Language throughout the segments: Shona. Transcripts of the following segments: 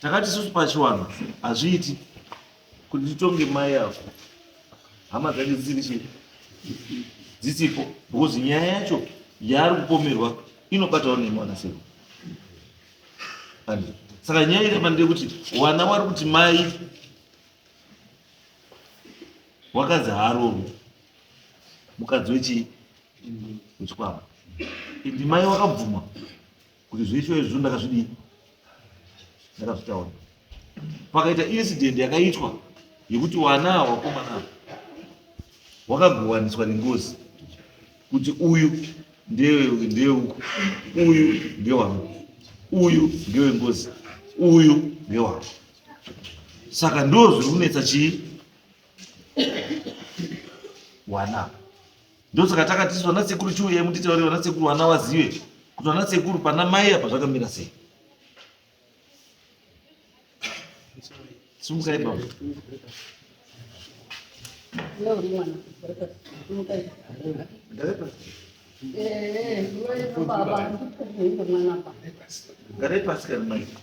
takati susu pachiwanhu hazviiti kuti titonge mai yavo hama dzake dzisiri chii dzisipo because nyaya yacho yaari kupomerwa inobatawo nemwana sero and saka nyaya iri pandee kuti wana wari kuti mai wakadzi haarovi mukadzi wechii wechikwambo iti mai wakabvuma kuti zveisho izvo ndakazvidii ndakazvitaura pakaita incident yakaitwa yekuti wana wakomana wakagowaniswa nengozi kuti uyu ndewe ndewe uku uyu ndewangu uyu ndewe ngozi uyu ndewangu saka ndo zviri kunetsa chii wana ndosaka takati isu vana sekuru chiuyai mutitaurire vana sekuru vana vazive kuti vana sekuru pana mai apa zvakamira sei sumukai baba garai pasi kana mai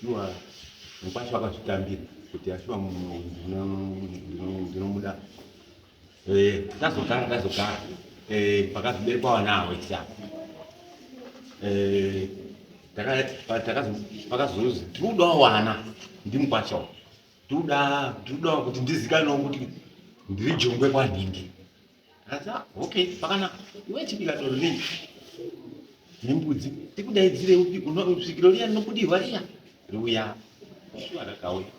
Shuwa mukwasha wakazvitambira kuti ashuwa ndinomuda eh, tazogara tazogara eh, pakazviberekwa vana avo isa eh, pakazozi tinodawo wana ndimukwasha tinodawo kuti ndizikane kuti ndiri jongwe kwanhingi Hanzi ah, okay pakanaka iwe chibika doro nei nembudzi tikudaidzire upi svikiro riya rinobudirwa riya riuya shuwa rakauya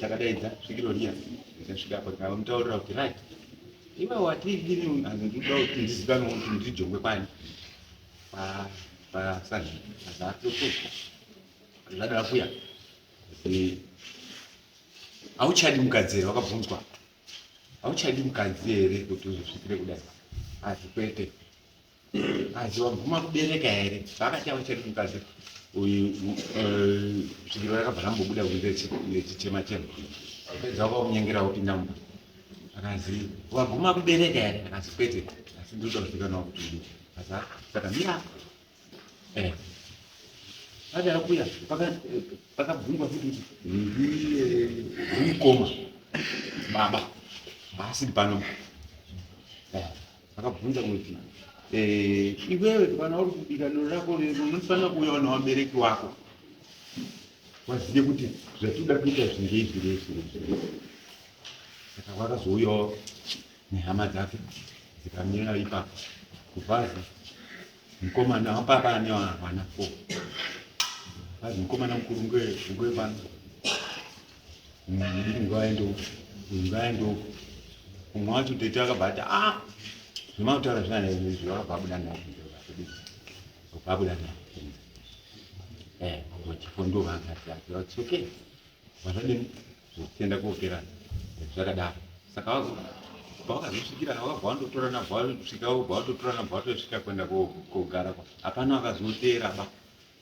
takadaidza svikiro riya ndikasvika apo ndikamutaurira kuti right iwe wati ini hanzi ndikuda kuti ndizikanwe kuti ndijongwe pani pasani azatotoka zvadara kuya hauchadi mugadziri wakabvunzwa hauchadi mukadzi here kuti uzosvikire kudai asi kwete asi waguma kubereka here vakati hauchadi mukadzi uyu eh, svikiro rakabva rambobuda kunze chichema chema pedza wakakunyengera wopinda mumba akazi waguma kubereka here akazi kwete asi ndinoda kuzikanwa kuti asi saka mira Eh. Acha akuya paka pakabvungwa kuti ndiye mukoma baba basi pano. Eh. Akabvunza kuti eh iwewe kana uri kubika noro rako unofanira kuuya na wabereki wako. Waziye kuti zvatuda kuita zvinge izvi zvinge izvi. Saka wakazouyawo nehama dzake dzikamira ipapo kubhazi mukomana wapapa ane vana fo bhazi mukomana mukuru ngwevana ndiri nguva yendoko nguva yendoko umwe wacho tete akabata a ah, zvemautaura zvana izvi vakabva abuda naoabuda na eh, vachifondo vangati ati okay Vakadini? Zvokutenda kokera zvakadaro. Saka wazo pawakazosvikira wakabva wandotora nabva wasvika wobva watotora nabva watosvika kuenda kogara kwa hapana wakazoteera ba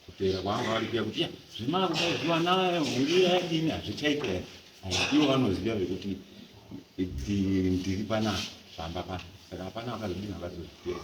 kuteera kwanga wari kuya kuti ya zvemakuda zvivana hungira yadini hazvichaita here ivo vanoziva vekuti ndiri panaa zvamba pano saka hapana wakazodini wakazozviteera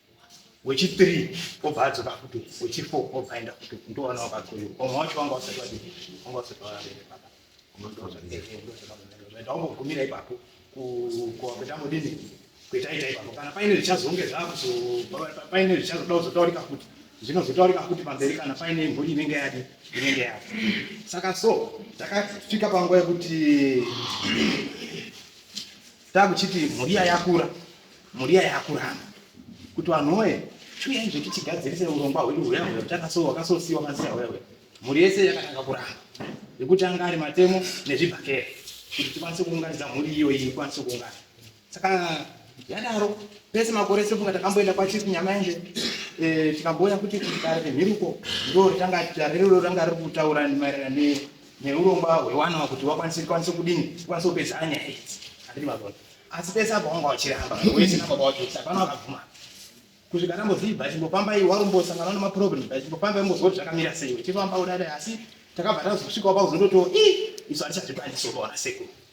wechi 3 obva adzoka futi wechi 4 obva aenda futi ndowana wakakoiwa vamwe wacho vanga vasati vadii vanga vasati vavere baba ndaungogumira ipapo kuenda modini kuitaita ipapo kana paine zvichazonge zvakuzopaine zvichazoda kuzotaurika futi zvinozotaurika futi pamberi kana paine mhuri inenge yadi inenge yadi saka so takasvika panguva yekuti takuchiti muriya yakura muriya yakurana kuti vanhu woye chiuyai zvekuti tigadzirise urongwa hwedu huya huya takasowa wakasosiwa maziya huya huya mhuri yese yakatanga kuramba yekuti anga ari matemo nezvibhakera kuti tikwanise kuunganidza mhuri iyoyi ikwanise kuungana saka yadaro pese makore sefunga takamboenda kwachief nyamaende eh, tikamboona kuti kudare remhiruko ndo ranga ranga riri kutaura maererano neurongwa hwewanawa kuti vakwanise kwanise kudini kwanise kupedza anyaya idzi handiti mabona asi pese apa wanga wachiramba wese nababa wacho kuti hapana wakabvuma kusvika ndamboziva chimbofamba iwe warumbosangana nemaproblem chimbofamba imbozwa kuti zvakamira sei uchifamba kudadai asi takabva tazosvikawo pakuzototiwo i isu hatichazvikwanisi unoona sekuru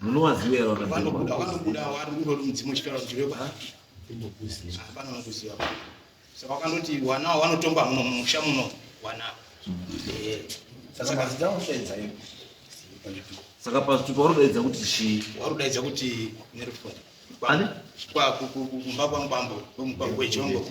munowaziva here vanobuda vanobuda wari kungoti mudzimu uchitaura kuti vekwa hapana vakuziva saka wakandoti wanawo wanotomba muno mumusha muno wana saka pazitupa warudaidza kuti chii warudaidza kuti nerufoni kumba kwamubambo kwemugwagwa wejongo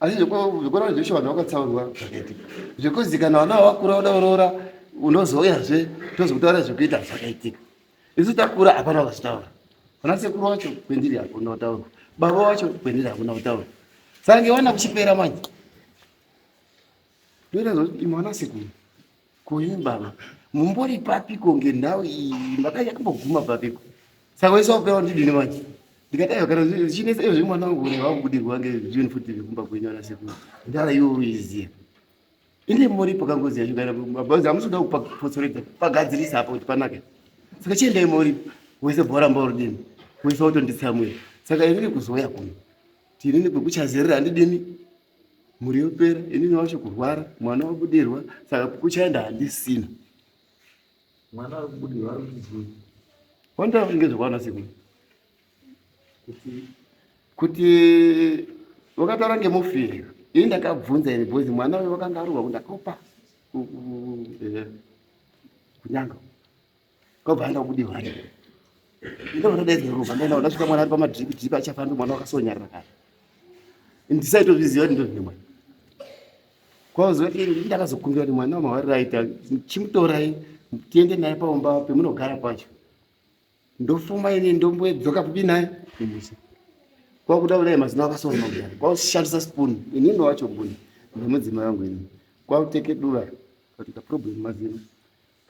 asi zvekuona zveshe vanhu vakatsaurwa zvakaitika zvekuzi kana vana vakura voda kuroora unozouyazve tozokutaura zvekuita zvakaitika isu takura hapana vakazvitaura vana sekuru wacho kwendiri hakuna kutaura baba wacho kwendiri hakuna kutaura sange wana kuchipera manje ndoita zvoti imwana sekuru Kuimba mumbori papiko ngendau iyi makanya kumboguma papiko saka wese wapewa ndidini manje ndikadai kana zvichinetsa izvi mwana wangu une wakubudirwa ngezvinhu futi zvekumba kwenyu ana sekuru ndara iwe uiziya ine mori pakangozi yacho kana mabhazi amusoda kupotsoredza pagadzirisa apa kuti panake saka chiendai mori wese bhora mbaurudini wese wotonditsamwira saka inini kuzouya kuno tinini kwekuchazerera handidini mhuri yopera inini wacho kurwara mwana wabudirwa saka kukuchaenda handisina mwana ari kubudirwa ari kuchii wandava kunge zvekwana siku kuti kuti wakataura ngemufiri ini ndakabvunza ini bhozi mwana uyo wakanga arurwa kundakaupa kunyanga Ndobva aenda kubudi hwani. Ndobva ndadaidzwa ropa ndaenda ndasvika mwana ari pamadripi dripi achafamba mwana wakasonyarira kare. Ndisaitozviziva kuti ndozvine mwana. Kwazokuti ndini ndakazokumbira kuti mwana wamawarira aita chimutorai tiende naye paumba pemunogara pacho. Ndofuma ini ndombodzoka papi naye kumusha. Kwakuda kudai mazino akasona magari. Kwakushandisa spoon inini wacho mbuni nemudzimai wangu ini. Kwakuteke dura katika problem mazino.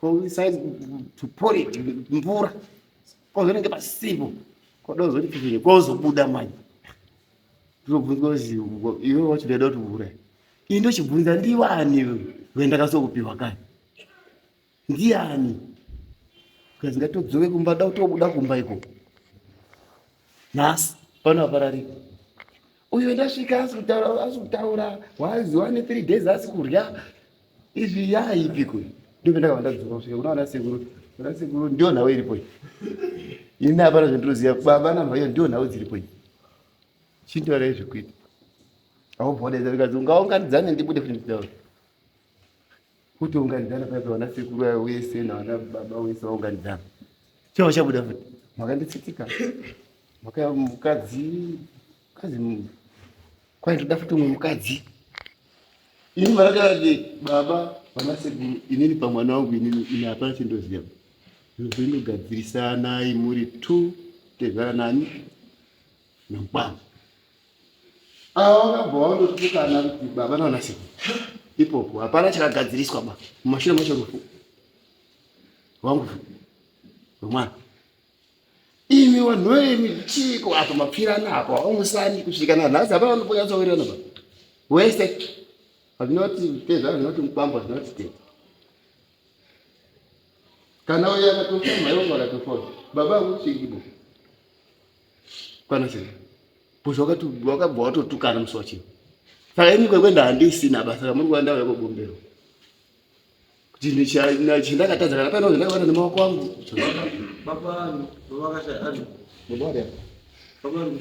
koisai tuporit mvura kozonenge pasipo kodozoti fifini kozobuda manje ndobvunzwa kuti iwe wacho ndaida kuti mvura iyi ndochibvunza ndiwani wendakasokupiwa kani ndiani kazi ngatodzoke kumba da kutobuda kumba ikoko nhasi pano apararika uyu ndasvika asi kutaura asi kutaura wazi wane three days asi kurya izvi yaipiko ndipo ndakabva ndadzoka kusvika kuna vana sekuru vana sekuru ndiyo nhau iripo ini hapana zvandinoziva baba namhaiyo ndiyo nhau dziripo chindoara izvekuita aubva wadaidza vikazi ungaunganidzane ndibude futi nditaura kuti unganidzana paipa vana sekuru ayo wese navana baba wese vaunganidzana chii vachabuda futi makanditsitika maka mukadzi mukadzi kwaitoda futi umwe mukadzi ini marakarati baba vana sekuru inini pamwana wangu inini ini hapana chindoziva zvinogadzirisanai muri two tezvara nani nokwana Ava vakabva vandotukana kuti baba navanasekuru ipopo hapana chakagadziriswa ba mumashure macho rufu wangu rwemwana imi vanhu vemi chiiko apa mapfirana apa wamusani kusvika nanhasi hapana vanoponyatsowirirana ba wese hazvinoti tezva zvinoti mubamba zvinoti tezva kana uye akatofa mhai wangu akatofawo baba vangu kuchingibo kwana sei bcause wakabva watotukana musi wachii saka ini kwekwenda handisina basa kamuri kuva ndava yakogombero kuti chindakatadza kana paino zvandakabata nemawako angu baba vangu baba vakashaya baba vangu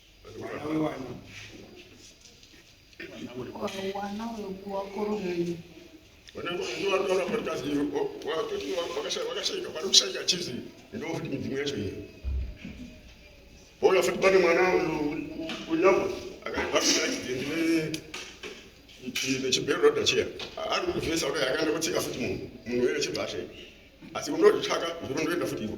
Olha, foi para o Manaus, o Lhama, agora vai ficar aqui dentro, né? chibhero roda chiya ari kuzvesa kudai akaenda kotsika futi munhu munhu were chibhashe asi unototsvaka zvirondoenda futi ivo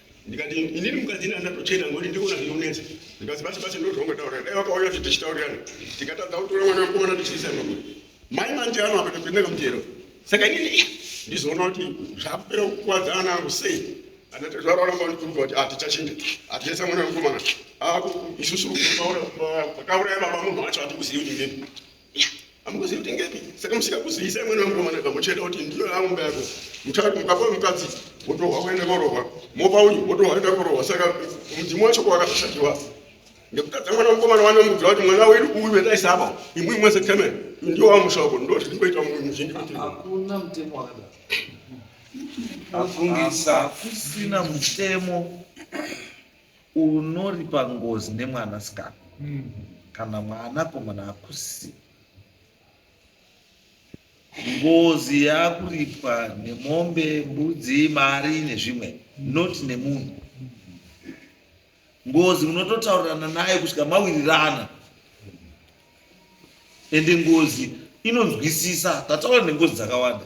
ndikati inini mukadzi ini handina kutochena ngokuti ndikuona zvinonetsa ndikati basi basi ndozvaungataura dai vakauya kuti tichitaurirana tikatadza kutora mwana wemukomana tichiisa makuti mai manje ano apa topinda kamutero saka inini eh, ndizoona kuti zvakupera kukwadza ana angu sei anatezvararamba ndikuruka kuti hatichachinja ah, hatichaisa mwana wemukomana ah, isusu vakauraya baba munhu wacho hatikuzivi kuti ndini amukuzivi kuti ngepi saka musika kuzivisa imweni vamukomana kamucheta kuti ndiyo yaumba yako muchati mukafa mukadzi wotohwa kuenda korohwa mopa uyu wotohwa kuenda korohwa saka mudzimu wacho kwakazoshakiwa ndikutadza mwana mukomana wane mudzi wati mwana wedu uyu vendaisa apa imwi mwese temen ndiwo wamusha wako ndo zvitikoita muzhinji hakuna mutemo wakadaro afungisa kusina mutemo unoripa ngozi nemwana sikana mm. kana mwana komana hakusi ngozi yakuripwa nemombe mbudzi mari nezvimwe mm. not nemunhu mm. ngozi unototaurirana naye kusvika mawirirana ende ngozi inonzwisisa tataura nengozi dzakawanda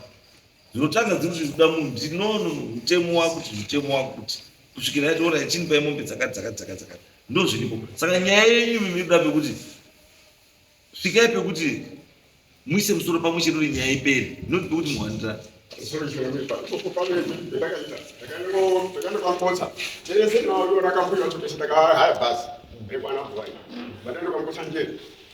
dzinotanga dziri kuti kuda munhu kuti no no no mutemo wakuti mutemo wakuti kusvikira yati ora chini pai mombe dzakati dzakati dzakati dzakati ndo zviripo saka nyaya yenyu mimi inoda pekuti svikai pekuti muise musoro pamwe chete kuti nyaya iperi not pekuti muhandira ndakanokambosa tese naorakambuira kuti ndakahaya basi rekwana bwai vandandokambosa njeri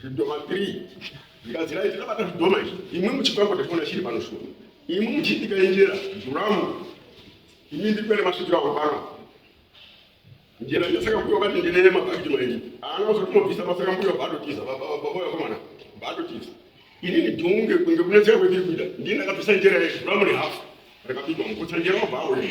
zvidhoma 3 zvigadzirai zvinabata zvidhoma izvi imwe muchikwambo tationa chiri pano shuwa imwe muchiitika injera zuramu imi ndiri kuenda masvikira awo pano njera yasaka mbuya vati ndinene mabhakiti maini haana kuzotomobvisa pasaka mbuya vaatotiza babababoya komana vaatotiza inini dhunge kunge kunetseka kwendiri kuita ndini ndakabvisa njera yezuramu nehafu rakapigwa mukutsa njera wabva auya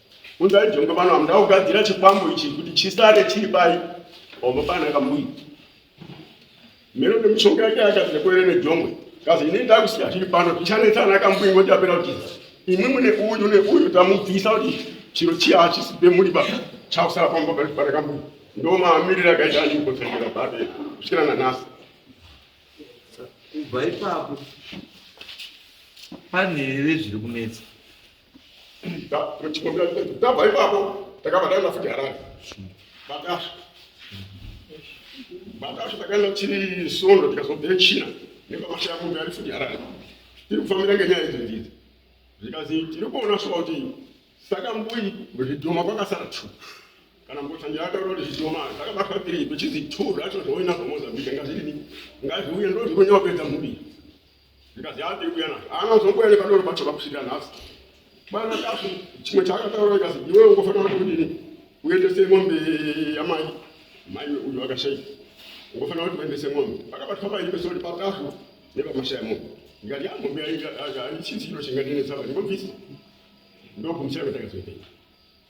Unzai jongwe pano amuda kugadzira chikwambo ichi kuti chisare chiri pai ombo pana kambuyi mero nemushonga yake akati nekwere nejongwe kazi ini ndakusiya chiri pano tichanetsa ana kambuyi ngoti apera kutiza imwi mune uyu neuyu tamubvisa kuti chiro chiya hachisipe muri ba chakusara pambo pari pana kambuyi ndo maamiriri akaita anikotsengera bade kusvikira nanasi kubva ipapo pane here zviri kunetsa tabva ipapo takabva taenda futi harare batasha batasha takaenda tiri sondo tikazobvire china nepamasha yamunhu ari futi harare tiri kufambira ngenyaya idzo ndidzo zvikanzi tiri kuona sva kuti saka mbui zvidhoma kwakasara two kana mbotangira ataura kuti zvidhoma zvakabatwa tiri kuchizi two zvacho zvoinazvo mozambique ngazvirini ngazviuye ndozvikunyawapedza mhuri Ndikazi yaa ndiri kuuya nazvo. Haana kuzomboya nepadoro pacho pakusvika nhasi. Bwana Tasvu chimwe chaakataura ndikazi iwewe ungofanira kudini uendese mombe yamai mai uyu akashaika ungofanira kuti uendese mombe pakabatwa paimbe sori patasvu nepamashaya mombe ndikati ya mombe aichizi ino chingatinetsava ndingobvisa ndokumusira kwatakazoipei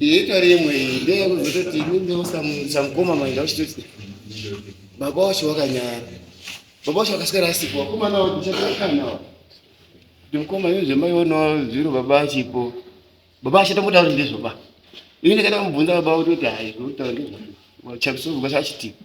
itori imwe ndeyakuzototi samukoma maenda uchitoti baba wacho wakanyara baba wacho akaswera asipo vakomana vakuchaakanaa kuti mukoma imi zvemaionawo zviro baba achipo baba achatombotauri ndezvoba ini ndakaita kumubvunza baba kutoti hai zvokutaura ndezvo chapisovukasachitipa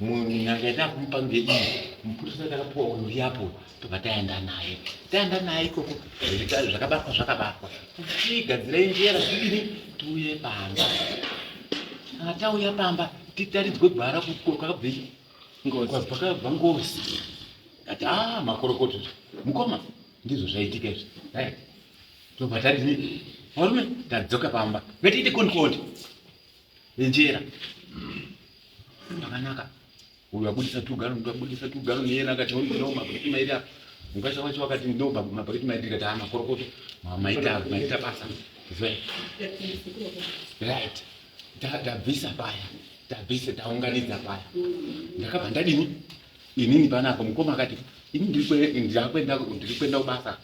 nyanga yataakumupa ngedii mupurisa takapuwa uyo uyapo tobva taenda naye taenda naye ikoko zvakabatwa zvakabatwa tichigadzirai njera zvidini tiuye pamba kana tauya pamba titaridzwe gwara kwakabvei kwakabva ngozi ati a ah, makorokoto mukoma ndizvo zvaitika izvi right tobva tadii varume tadzoka pamba ngatiite konikondi Enjera. Pakanaka. Uyu abudisa two gallon, uyu abudisa two gallon, yena akati honi kuno mabhakiti mairi apa. Mukasha wacho wakati ndo mabhakiti mairi tikati haa makorokoto. Maita, maita basa. Zwe. Right. Tabvisa paya. Tabvisa, taunganidza paya. Ndakabva ndadini? Inini panapa mukoma akati ini ndiri kuenda kubasa.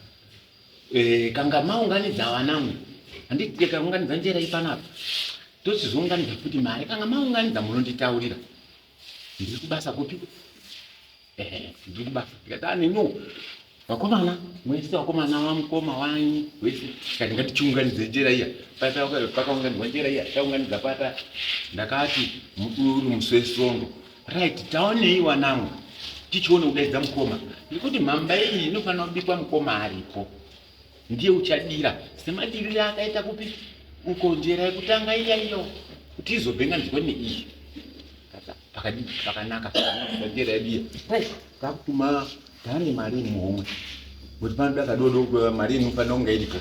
Eh, kanga maunganidza wanangu handiti tikaunganidza njera ipanapa tochizounganidza futi mari kanga maunganidza munonditaurira ndiri kubasa kupi eh, ndiri kubasa tikatani no vakomana mwese vakomana vamukoma wanyi wese kati ngatichiunganidze njera iya pakaunganidza njera iya taunganidza pata ndakati uri musi wesvondo Right, taonei wanangu tichione kudaidza mukoma nekuti mhamba iyi inofanira kubikwa mukoma aripo ndiye uchadira semadirire akaita kupi ukonjera yekutanga iya iyo kuti izobhenga nzwene iyi pakadii pakanaka pakadira yadiya takutuma taane mari muhomwe kuti panoda kadodo mari inofanira kunge iripo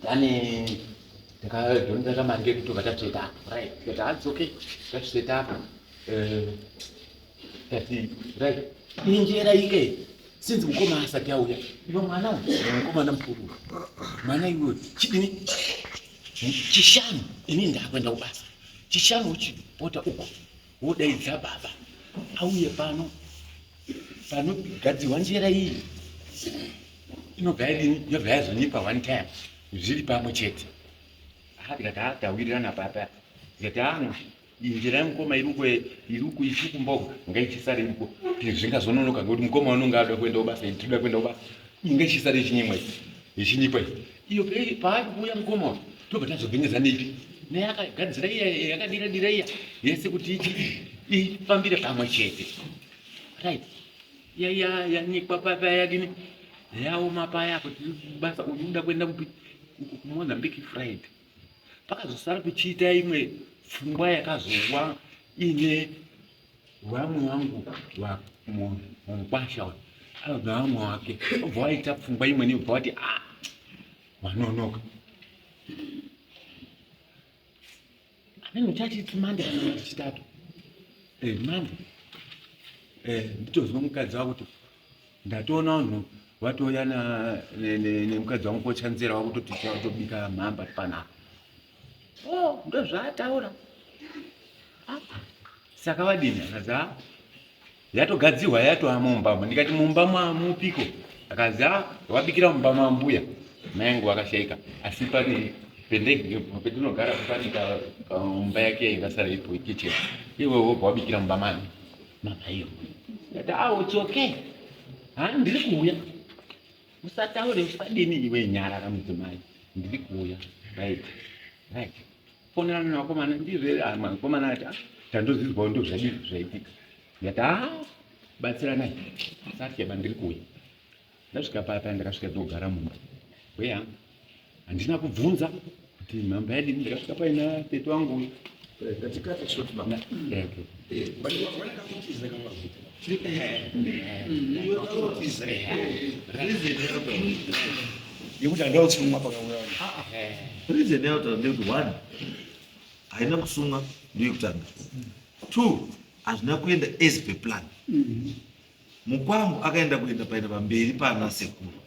Dani takadonda kamari kedu tobva tatoita apo right tikati hanzi okay tatozoita apo eh, tati right injera ike sinzi mukoma asati auya iva mwana mukomana mukuru mwana iwe chidini chishanu ini ndakuenda kubasa chishanu uchipota uko wodaidza baba auye pano panogadzirwa njera iyi inobva irini yobva yazonyepa one time zviri pamwe chete aatikatataurirana papa zati ano njera yemukoma iruko iruko ichi kumboga ngaichisare iruko zvingazononoka ngekuti mukoma unonge ada kuenda ubasa itoda kuenda ubasa inga ichisare ichinyimwa ichinyipa iyo paari kuuya mukoma uyu tobva tazovhinyidza neipi naye akagadzira iya yakadira dira iya yese kuti ifambire pamwe chete right yaiya yanyikwa papa yadini yaoma paya kuti basa uyu uda kuenda kupi kumozambique friday pakazosara kuchiita imwe pfungwa yakazowa ine vamwe vangu vamukwasha anobva vamwe wake obva waita pfungwa imweni obva wati a ah, Manonoka. Amene uchati tumande kana chitatu. Eh, mande. Eh, ndichozwa mukadzi wako kuti ndatoona vanhu vatouya nemukadzi wangu kochanzira wakutoti tobika mhamba panapa oh, ndozvaataura ah, saka vadini akaza yatogadzirwa yatova mumbamo ndikati mumba mamupiko akanzi a ah, wabikira mumba mambuya mayangu vakashaika asi pane pendege petinogara pane mumba yake yaingasara ipo kitchen iwe wobva wabikira mumba mani mama iyo ndati a ah, it's okay ha ndiri kuuya usataure usadini iwe nyarara mudzimai ndiri kuuya right right fonera mune vakomana ndizvo here ah, vakomana ati ah, tandozidzwawo ndo zvadii zvaitika ndikati a ah, batsiranai satya bandiri kuuya ndasvika papa ndakasvika ndogara mumba weya handina kubvunza kuti mhamba yadini ndakasvika paina tete wangu uyu eh, yekuti handava kusungwa pakauya reason yautaura ndeyekuti one haina kusungwa ndoyekutanga two hazvina kuenda as per plan mukwangu akaenda kuenda paenda pamberi pana sekuru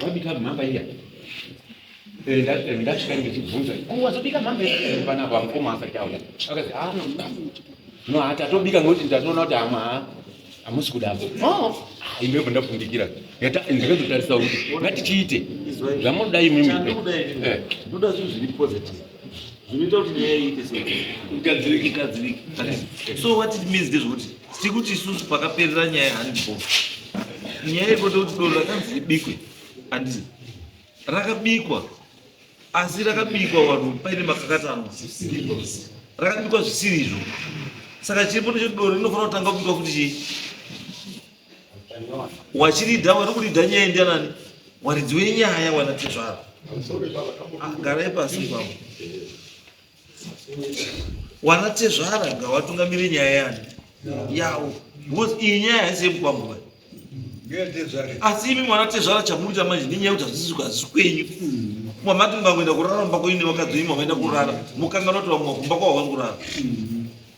Wabika mhamba iya. Eh, eh, ndasvika ndichibvunza oh, wazobika mhamba eh, panapa mukoma asati auya akazi ah, no hati atobika ngekuti ndatoona kuti hama hamusi kudavo oh, ah, imbepo ndakundikira ndakazotarisa kuti ngatichiite zvamunoda imimi zvinoita kuti nyaya iite seigadzirike igadzirike so what it means ndezvekuti tiri kuti isusu pakaperera nyaya handipo nyaya yekuti kuti doro rakanzi ribikwe handizi rakabikwa asi rakabikwa vanhu paine makakatanwa rakabikwa zvisiri izvo saka chiripo necho doro rinofanira kutanga kubikwa kuti chii wachirida wari kurida nyaya indianani waridzi wenyaya wana tezvaro ah, garai pasi kwavo wana tezvara ngawatungamire nyaya yani yawo because iyi nyaya haisi yemukwanguva asi imi mwana tezvara chamurita manje nenyaya kuti hazisi hazisi kwenyu mwamati mukangoenda kurara mumba kwenyu nevakadzi imi mavaenda kurara mukanganoti vamwe kumba kwavo vankurara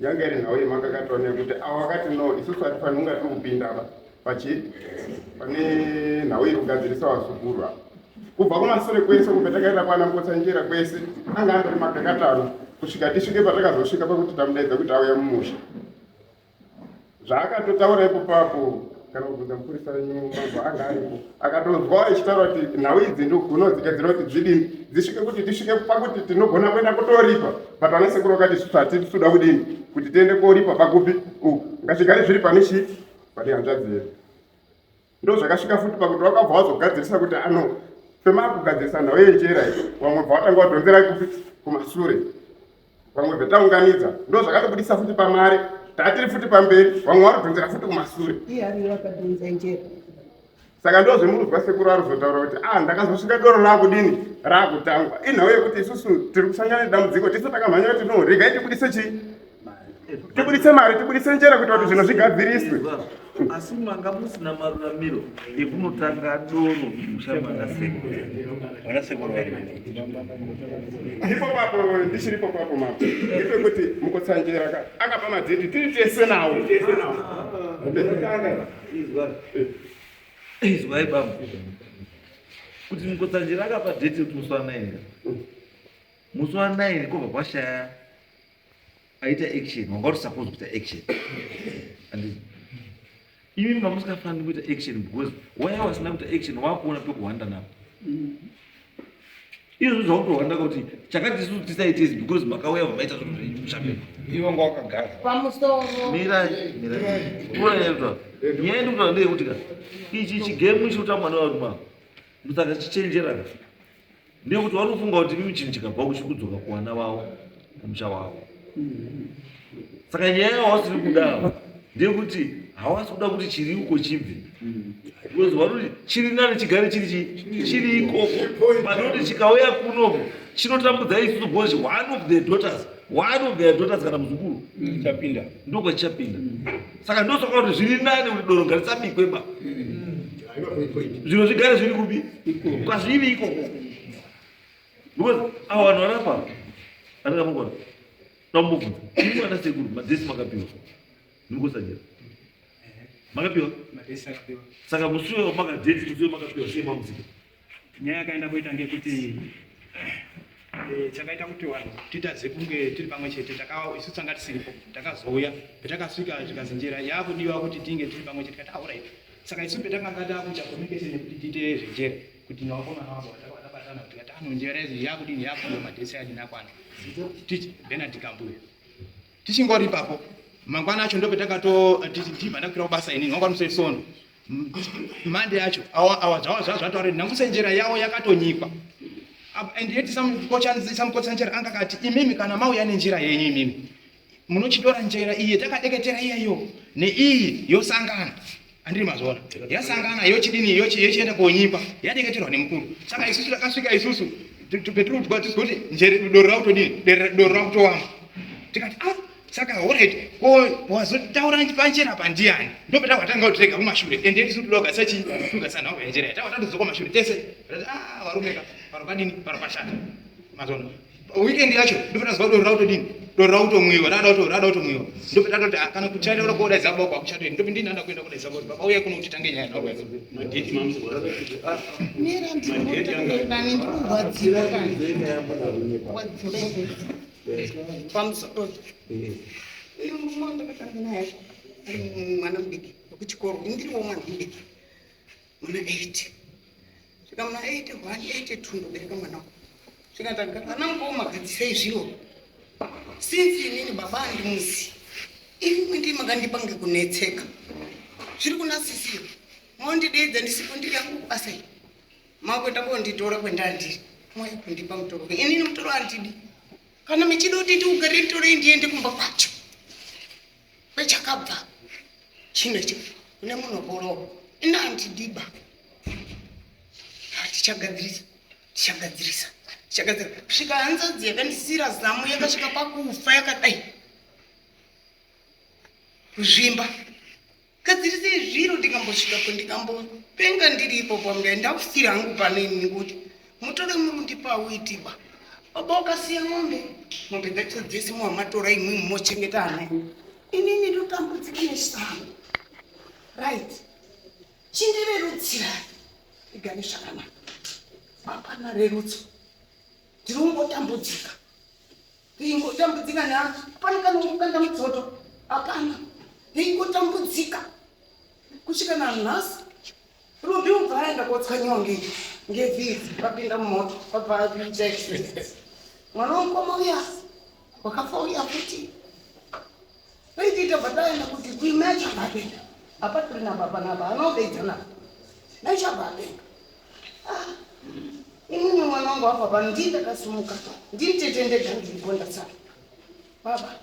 Yanga iri nhau yemakakatanwa yekuti awo akati no isusu hatifanhi kunga tiri kupinda apa pachi pane nhau iri kugadzirisa wazukuru apa kubva kumasure kwese kubva takaenda kwana mbotsanjera kwese anga andori makakatanwa kusvika tisvike patakazosvika pakuti tamudaidza kuti auya mumusha zvaakatotaura ipopapo kana kubvunza mupurisa wenyu mambo anga aripo akatonzwa echitaura kuti nhau idzi ndogono dzigadzira kuti dzidini dzisvike kuti tisvike pakuti tinogona kuenda kutoripa but vana sekuru vakati svati tisuda kudini kuti tiende koripa pakupi u ngazvigare zviri pane chii pane hanzvadzi yedu Ndozvakasvika futi pakuti wakabva wazogadzirisa kuti ano fema kugadzirisa nhau yenjera iyi vamwe bva watanga wadhonzera kupi kumasure vamwe bvetaunganidza ndozvakatobudisa futi pamari tatiri futi pamberi vamwe varidhonzera futi kumasure saka ndo zvemunonzwa sekuru arizotaura kuti a ah, ndakazosvika doro raakudini raakutangwa inhau yekuti isusu tiri kusangana nedambudziko tisu takamhanya kuti no regai tibudise chii tibuditse mari tibuditse njere kuita kuti zvinhu zvigadziriswe asi manga musina maruramiro ekunotanga doro musha manasekoipo papo ndichiripo papo mapo ipe kuti mukotsanjera ka akapa madzeti tiri tese nawo izwai baba kuti mukotsanjera akapa deti kuti musi wa 9 musi wa 9 kobva kwashaya aita action wanga uri supposed kuita action and imi mama musingafaniri kuita action because waya wasina kuita action wakuona pekuhwanda napo izvo zvakutohwanda kuti chakati isu tisaite izi because makauya vamaita zvinhu zvenyu zvapepa ivo nga wakagara pamusoro mirai mirai unayaita nyaya ndikutaura ndeyekuti ka ichi chigame chikutambwa nevarume ava musaka chichenjera ka nekuti vanofunga kuti mimi chinhu chikabva kuchi kudzoka kuvana vavo kumusha wavo saka nyaya yavasiri kudawo ndeyekuti havasi kuda kuti chiri uko chibve because vanoti chiri nani chigare chiri chi- chiri ikoko vanoti chikauya kuno chinotambudza isusu because one of their daughters one of their daughters kana muzukuru chapinda ndokwachichapinda saka ndosaka kuti zviri nani kuti doro ngarisabikwe ba zviro zvigare zviri kupi kwazviri ikoko because avo vanhu varapa anenge mangwana tamubvunza ini mwana sekuru madhesi makapiwa ndimukosajera makapiwa saka musuwe wamakadheti musuwe makapiwa sei mamusika Nyaya yakaenda koita ngekuti eh, chakaita kuti vanhu titadze kunge tiri pamwe chete takawa isu tanga tisiripo takazouya petakasvika zvikanzi njira yakudiwa kuti tinge tiri pamwe chete kati aurit saka isu petakanga takuita communication yekuti tiite zvenjere kuti nawakomana wavo takabatana kuti kati ano njira yedu yakudini yakudiwa madhesi adini akwana tichi benard kambuya tichingori ipapo mangwana acho ndopetakatotichibva ndakuira kubasa inini wangwa musaisono mande yacho awazvazvataure nhamusenjera yavo yakatonyikwa and yet samukotsanjera anga kati imimi kana mauya nenjira yenyu imimi munochitora njira iye takadeketera iyeyo neiyi yosangana andiri mazvona yasangana yochidini yochienda konyikwa yadeketerwa nemukuru saka isusu takasvika isusu petiri kudya tizikuti njere doro rakutodini doro rakutowama tikati ah saka horet ko wazotaura pachena pandiyani ndopeta watanga kutirega kumashure ende isu toda kugasa chii togasa nhau yanjera yatawa tatozoka kumashure tese ah varume ka paro padini paro pashata mazono weekend yacho ndopeta zuva doro rautodini doro rautomwiwa rada kuto rada kutomwiwa ndopeta toti ah, kana kuchata ura koda zabo kwa kuchata ende ndopi ndinanda kuenda koda zabo baba uye kuno kuti tange nyaya nhau yacho madeti mamzi bora ah mira ndikuti ndani ndikuwadziwa kana wadziwa mwana mudiki wekuchikoro ndiriwo mwana mudiki muna eight svika muna eight one eight two ndobereka mwana uku svika taga ana mukoma gadzisei zviro since inini baba andimuzi imi ndi makandipa ngekunetseka zviri kuna sisiro mondideedza ndisipo ndiri yangu kubasa iyi Makuenda konditora kwendandiri. Mauya kundipa mutoro. Ini mutoro andidi. Kana mechida kuti ndiugare mutoro ndiende kumba kwacho. Kwechakabva. Chino ichi. Kune munhu borowa. Ini andidiba. Hatichagadzirisa. Tichagadzirisa. Tichagadzirisa. Kusvika hanzadzi yakandisira zamu yakasvika pakufa yakadai. Kuzvimba. gadzirisei zviro ndikambosvikapo ndikambopenga ndiri ipopo amdai ndakusiri hangu pano ini nekuti mutore murundipa auitiba baba ukasiya mombe mombe dzacho dzese muhamatora imwi mochengeta ana inini ndotambudzika nesango right chindirerutsirai igane zvakanaka hapana rerutso ndiri ungotambudzika Ingotambudzika nani? Pane kana kukanda mudzoto? Hapana. Ingotambudzika kusvika nanhasi. Rubi ubva aenda kotswanyiwa nge ngevhidzi vapinda mumoto vabva vakuita accident. Mwana womukoma uya wakafa uya futi. Paitita pataenda kuti kuimai chakapeka apa tiri napa panapa anobeja napa mai chakapeka ah, inini mwana wangu apa pano ndii ndakasumuka ndini tete ndega ndiripo ndasara baba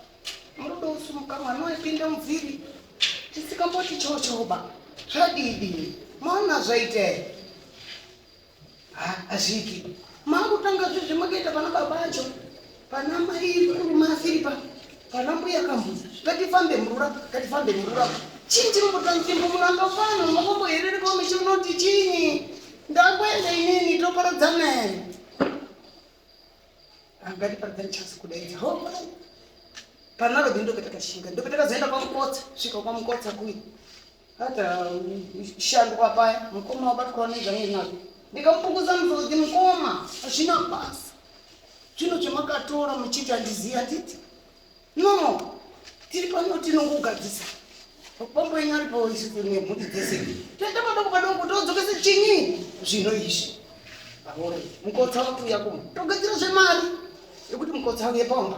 murudo usumuka mwana waipinda mubviri tisikamboti chochoba zvadidi mwana zvaita here hazviki makutanga zvizvi makaita pana baba acho pana mai murume asiri pa pana mbuya kambuza ngatifambe murura ngatifambe murura chii chiri mutanzimbo muramba fano makombo herere komichi unoti chinyi ndakuenda inini toporodzanai angatiparadzani chasi kudaidza ho panaro bhi ndopetakaxinga ndopetakazoenda kwamukotsa svika kwamukotsa kuyi Hata shandwa paya mukoma wabatwa nezvange nazvo ndikamupunguza muzodzi mukoma hazvina basa zvino chamakatora muchiti handizivi handiti no tiri pano tinongogadzisa mapambo enyu ari paoisinehuri dzese toita padoko padoko todzokesa chinyi zvino izvi aore mukotsa wakuuya kuma togadzira zvemari yekuti mukotsa auye pamba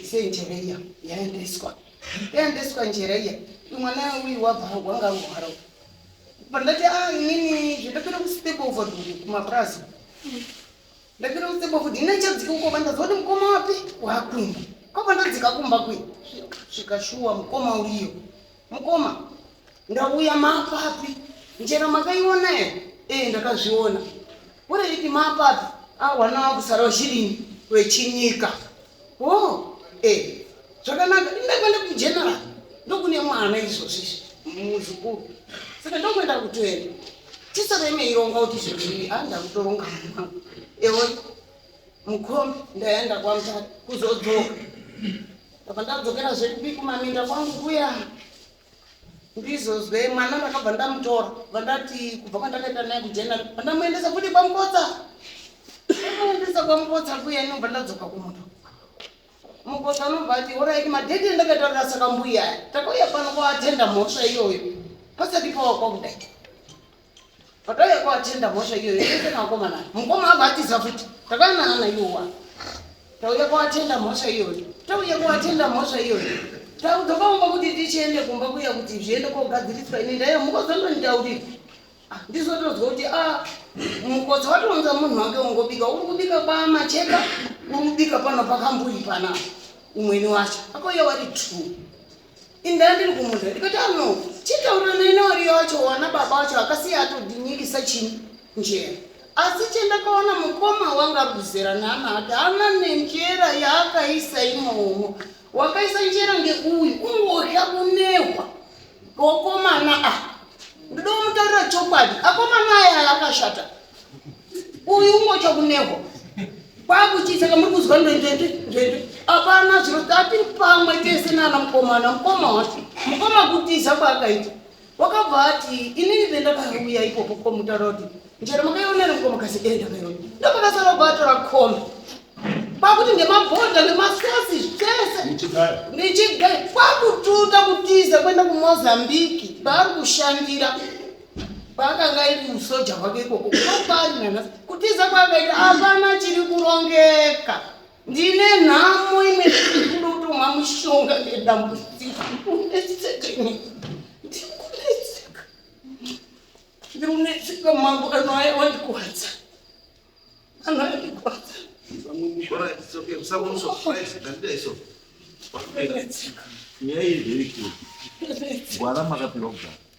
Isei njere iya yaendeswa. Yaendeswa njere iya. Mwana uyu wabva wanga ngwaro. Pandati ah nini zvindapira ku step over kuma prazo. Ndapira ku step over dina chadzika uko bandazwa kuti mukoma wapi? Wakumba. Kwa bandadzika kumba kwi. Svikashuwa mukoma uyo. Mukoma, ndauya mapapi? Njera makaiona here? Eh, ndakazviona. Ureriti mapapi? Ah, wana wangu Sarah Zhirini wechinyika. Oh, eh, zvakanaka ndakwenda kugeneral ndokune mwana izvozvi muzukuru saka ndokuenda kutoenda tisareme ironga kuti zvii a ndakutoronga mwangu ewe mukombi ndaenda kwamutata kuzodzoka ndabva ndadzokera zvekupi kumaminda kwangu kuya ndizozwe mwana ndakabva ndamutora vandati kubva kwandakaita naye kujena vandamuendesa futi kwamukotsa amuendesa kwamukotsa kuya inobva ndadzoka kumuto mukotsa anobva ati oraiki madheti ndakatarira saka mbuya takauya pano kwaatenda mhosva iyoyo pasati pawa kwakudai Pataiya kwatenda mhosva iyoyo yese makomana mukoma avo atiza futi takanana iwowa tauya kwatenda mhosva iyoyo tauya kwatenda mhosva iyoyo taudzokaumba kuti tichiende kumba kuya kuti zviende kogadziriswa ini ndaiya mukozondonitaurira ah, ndizotodzwa kuti a ah, mukodzo watounza munhu wake ungobika uri kubika kwamacheka uri kubika pano pakambuyi pana umweni wacho akauya wari true Indira ndiri kumunda ndikati ano chitaurira nene wariyo wacho wana baba wacho akasiya atodinyirisa chini njera asi chendakaona mukoma wanga ari kuzera nana ati ana nenjera yaakaisa imomo wakaisa njera ngeuyu ungodya kunehwa kokomana a ah, ndoda kumutaurira chokwadi akomana aya akashata uyu umwe chakuneho kwakuchisa kamuri kuzwa ndendende ndende apana zviro tatiri pamwe tese nana mukomana mukoma wati mukoma kutiza kwaakaita wakabva ati inini vendakauya ipopo komutaura kuti njero makaionera mukoma kasi e ndakaiona ndopakasara kuatora koma kwakuti nemabhodha nemasosi zvese ndichigai kwakututa kutiza kwenda kumozambiki baari kushandira kwaakanga iri musoja hwake ikoko kwaari nanhasi kutiza kwaakaita hapana chiri kurongeka ndine nhamo imwe kudotomwa mushonga nedambudziko ndikunetseka ndikunetseka mambo ano aya wandikwadza ano aya ndikwadza nyaya iri very clear gwara makapirwa kugara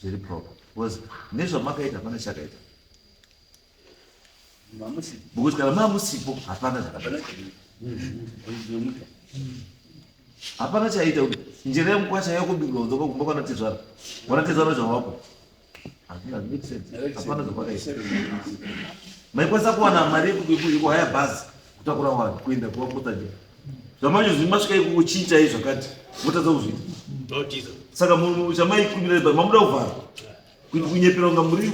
zviri proper because nezvamakaita hapana chakaita because kana mamusipo hapana zvakadai hapana chaita kuti njira yemukwasha yakubirwa kudzoka kumba kwana tezvara wana tezvara zvawako hapana zvakadai maikwanisa kuwana mari yekuhaya bhazi kutakura vanhu kuenda kuvakotaja zvamanje zvi masvika ikuko chii chai zvakati motadza kuzviita saka chamaikumira pa mamuda kuvhara kuti kunyepera kunga muri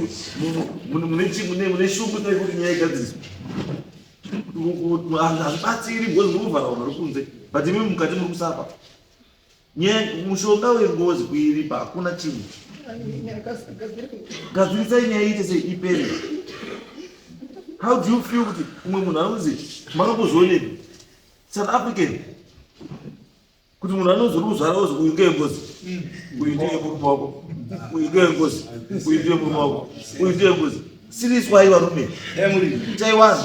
mune chi mune mune shungu tai kuti nyaya igadziriswa hazvibatsiri bhozi muri kuvhara vanhu vari kunze but imi mukati muri kusapa mushonga wengozi kuiripa hakuna chinhu gadzirisai nyaya iite sei ipere how do you feel kuti umwe munhu anonzi makambozvionei south african kuti munhu anonzi uri kuzvara ozi uyu ngeyengozi uyu ndiye murume wako uyu ngeyengozi uyu ndiye murume wako uyu ndiye ngozi siriswai varume chaiwanhu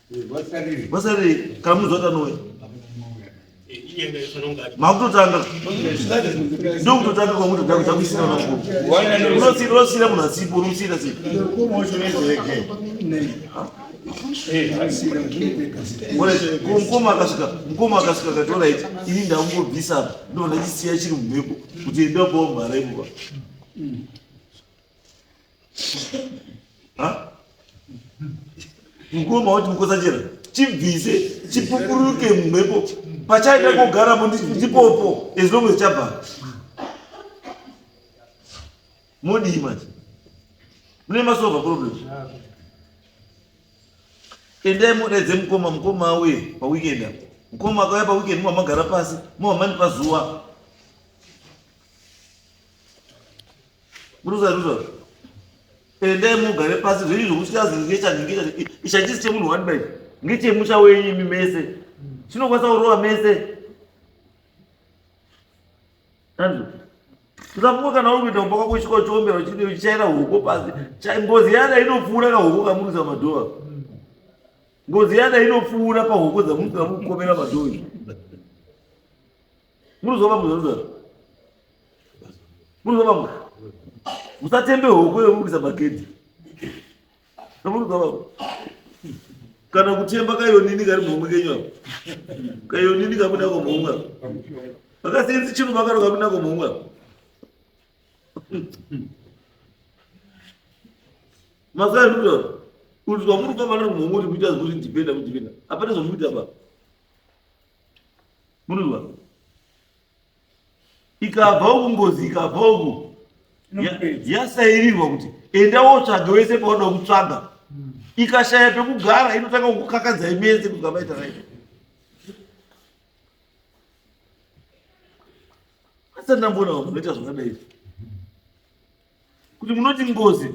vasarei kana munhu zvaita nowe makutotanga ndokutotanga kwamutoda kuda kuisira vakuru unosira munhu asipo unomusira sei mukoma akasvika mukoma akasvika katora iti ini ndakungobvisa apa ndonda chisiya chiri mumhepo kuti enda kuomhara imuva mukoma wati mukosachera chibvise chipupuruke mumhepo pachaita kugarapo ndipopo as long as chabva modii manje mune masova problem endai mudaidze mukoma mukoma auye paweekend apo mukoma akauya paweekend muva magara pasi muva mani pazuva Muruza ruza. Ende mugare pasi zviri zvokusiyazi ngecha ngecha ichachisi chemunhu wani bai. Ngeche musha wenyu imi mese. Chinokwanisa kurova mese. Andrew. Usafunga kana uri kuita kumba kwako uchiko chiombera uchidi uchichaira huko pasi. Cha- Ngozi yana inopfuura ka huko kamuruza madhova. Ngozi yana inopfuura pa huko dzamuruza kamukomera madhova. Munozova munhu anodaro. Munozova munhu. Musatembe hoko yomukisa magedhi. Munozova munhu. Kana kutemba kayonini kari mhomwe kenyu apo. Kayonini kabuda komhomwe apo. Vakasiyenzi chino vakaro kabuda komhomwe apo. Mazai munodaro. Kuti zvamuri kupa vana mhomwe kuti muita zvekuti ndipenda mudipenda. Hapana zvamuri kuita baba. Munova ikabva uku ngozi ikabva uku yasairirwa kuti enda wotsvaga wese paunoda kutsvaga hmm. ikashaya pekugara inotanga kukakadza imese kuti kamaita raita asi ndamboona vanoita zvakadai kuti munoti ngozi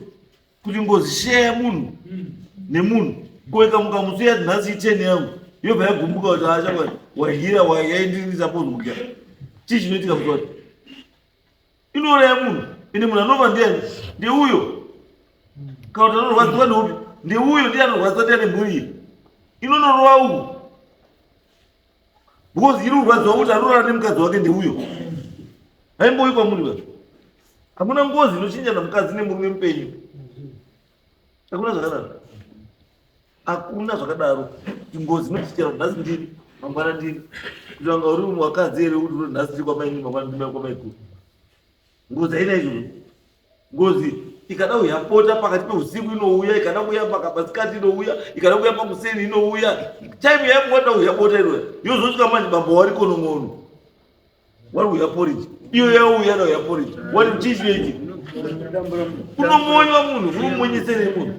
kuti ngozi sheya yemunhu nemunhu koika mukamutsu yati nhasi icheni yangu yobva yagumbuka kuti asha wahira yaindiisa pozodya chii chinoitika kuti wati inouraya munhu ende munhu anova ndiani ndeuyo kana kuti anorwadziwa neupi ndeuyo ndiye anorwadziwa ndiani mburi iyi inonorova uku because iri kurwadziwa kuti anorara nemukadzi wake ndeuyo aimboyi kwamuri vacho hakuna ngozi inochinjana mukadzi nemurume mupenyu hakuna zvakadaro hakuna zvakadaro kuti ngozi inochinjana nhasi ndiri mangwana ndiri kuti vanga uri wakadzi here kuti nhasi ndiri kwamaini mangwana ndimai kwamaiguru ngozi haina izvozvo Ngozi ikada kuuya pota pakati peusiku inouya, ikada kuuya pakamasikati inouya, ikada kuuya pakuseni inouya. Time yaikuwanda kuuya bota inoya yozosvika manje bambo wari konon'ono wari kuuya poriji iyo yauya nauya poriji wari chii chinoitika unomonywa munhu unomonyesere munhu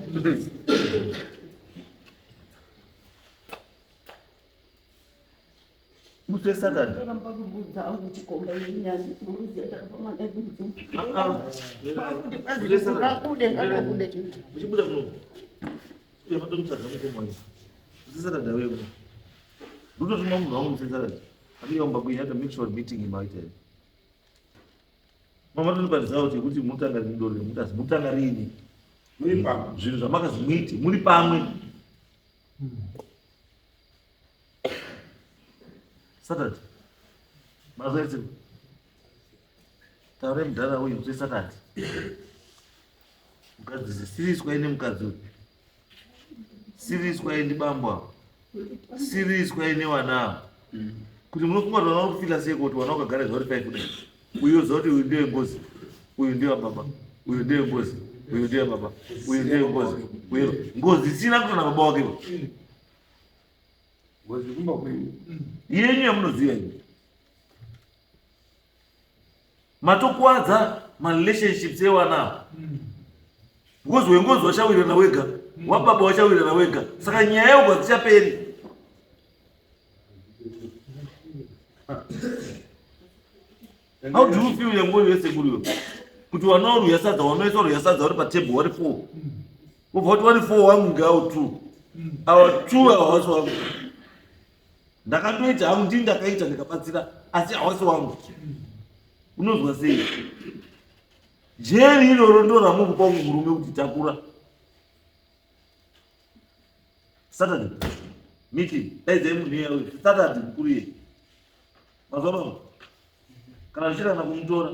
musi wesatani uchibuda muno uyafatomutadza mukomana usisatadha wewe ndototuma munhu wangu musisatadha apiyaumba kuinyata make sure meeting imaitee mama tondibatizawo chekuti mutanga rini doro remutasi mutanga rini zvinhu zvamakazi muiti muri pamwe hmm. Saturday. Mazwezi. Taure mdara uyu kuti Saturday. Mkadzi zisiriswa ine mkadzi. Siriswa ine bambwa. Siriswa ine wana. Mm. Kuti munofunga kuti wana kufika sei kuti wana ukagara zvori pai kudai. Uyo zoti uyu ndiye ngozi. Uyu ndiye baba. Uyu ndiye ngozi. Uyu ndiye baba. Uyu ndiye ngozi. Uyu ngozi sina kutana baba wake. Ngozi kumba kwenyu. Yenyu yamunoziva yenyu. Matokuwadza marelationships ewana because wengozi wachawirana wega wababa wachawirana wega saka nyaya yako hadzichaperi How do you feel yangu yese kuriyo? Kuti wana uri yasadza wanoisa uri yasadza uri pa table wari 4. Ubva kuti wari 4 wangu ngao 2. Awa 2 hawasi wangu. Ndakatoita hangu ndini ndakaita ndikabatsira asi hawasi wangu. Unozwa sei? Jeri iroro ndo ramukupa murume kuti takura. Saturday meeting daidzai munhu iya uyu Saturday mukuru iye mazuva baba kana zvichida kana kumutora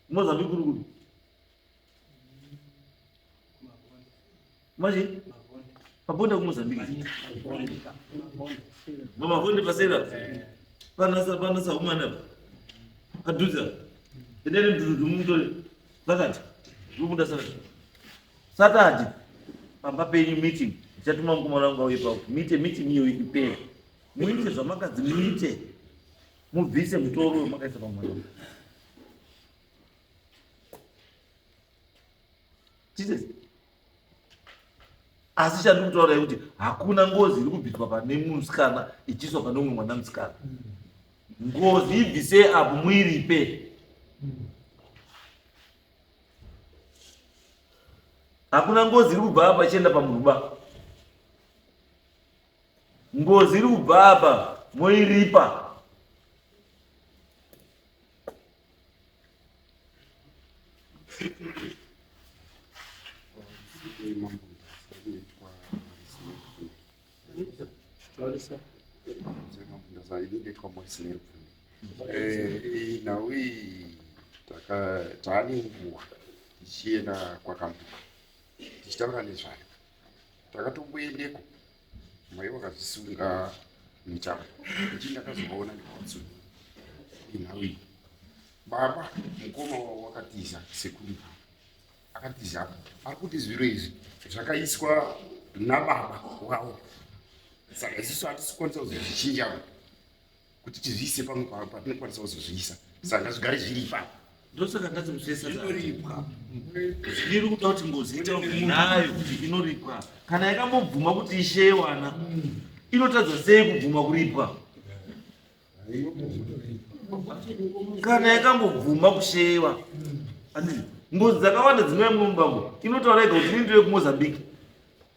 mozambi kuri kuri manje pabonda kumozambika mamakonde pasera panasa panasa humana padhuza endeni mdududumumutore vakati zvobuda saka Saturday pamba penyu meeting ndichatuma mukomana wangu auye pavo muite meeting iyo ipere muite zvamakadzi muite mubvise mutoro wemakaisa pamwana jesus asi chandiri kutaura kuti hakuna ngozi iri kubviswa pane musikana ichiiswa pane umwe mwana musikana ngozi ibvise apo muiripe mm. hakuna ngozi iri kubva apa ichienda pamuruba ngozi iri kubva apa moiripa Thank you. Eh, nhau iyi taane nguva tichienda kwakambuka tichitaura nezvayo takatomboendeko mai vakazvisunga mitambo ichii ndakazovaona ndikatsu inhau iyi baba mukoma wavo wakatiza sekuru akatiza apa ari kuti zviro izvi zvakaiswa nababa wavo saka isusu hatisikwanisa kuzozvichinja kuti tizviise pamwe pavo patinokwanisa kuzozviisa saka ngazvigare zviri ipapa ndosaka ndati musesainoripwa zviri kuda kuti ngozi itakunayo kuti inoripwa kana yakambobvuma kuti ishewana inotadza sei kubvuma kuripwa kana yakambobvuma kusheyewa ngozi dzakawanda dzinouya muno mubambo inotaura yega kuti nindire kumozambique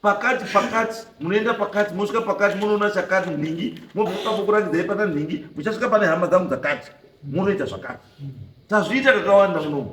pakati pakati munoenda pakati mosvika pakati munoona chakati nhingi mobvipako kurangidzai pana nhingi muchasvika pane hama dzangu dzakati munoita zvakati tazviita kakawanda munomu